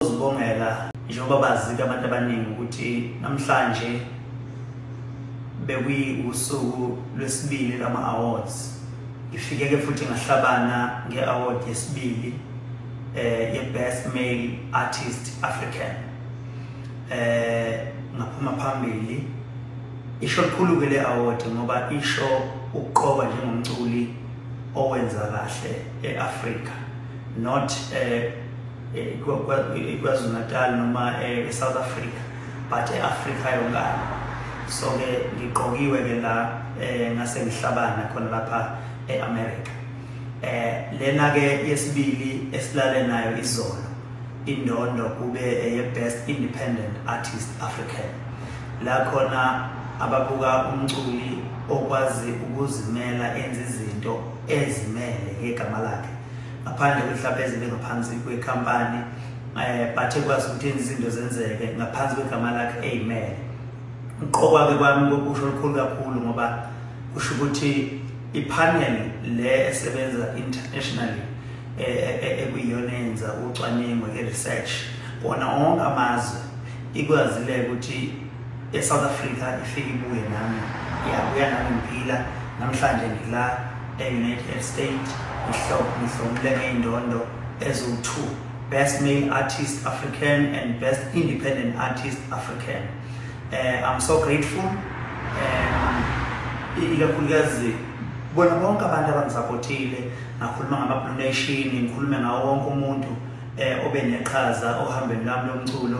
Sibongela njengoba bazika abantu abaningi ukuthi namhlanje bekuyiwusuku lwesibili lama-awards ngifike-ke futhi ngahlabana nge-award yesibili eh ye-best male artist african eh ngaphuma phambili isho likhulu-ke le-award ngoba isho ukuqoba njengomculi owenza kahle e-afrika not eh ikwazulu-natal noma e-south eh, africa but e-afrika yonkana so-ke ngiqokiwe-ke la um ngase ngihlabana khona lapha e-america um lena-ke yesibili esilale nayo izolo indondo kube eye-best independent artist african la khona ababuka umculi okwazi ukuzimela enza izinto ezimele ngegama lakhe ngaphandle kwehlaphezo lingaphansi kwekhampani um eh, but ekwazi ukuthi enza izinto zenzeke ngaphansi kwegama lakhe amen uqokwa-ke kwami kokusho olukhulu kakhulu ngoba kusho ukuthi ipanel le esebenza internationally eh, eh, ekuyiyona yenza ucwaningo i-research kona onke amazwe ikwazile ukuthi eSouth Africa ifike ibuye nami iyabuya nami ngiphila namhlanje ngila e-United States ngihlomule ngey'ndondo eziwu-two best male artist African and best independent artist African uh, I'm so grateful um, ikakhulukazi bona bonke abantu abangisapotile ngakhuluma ngama-blue nation ngikhulume ngawo wonke umuntu um obe neqhaza ohambeni lami lomculo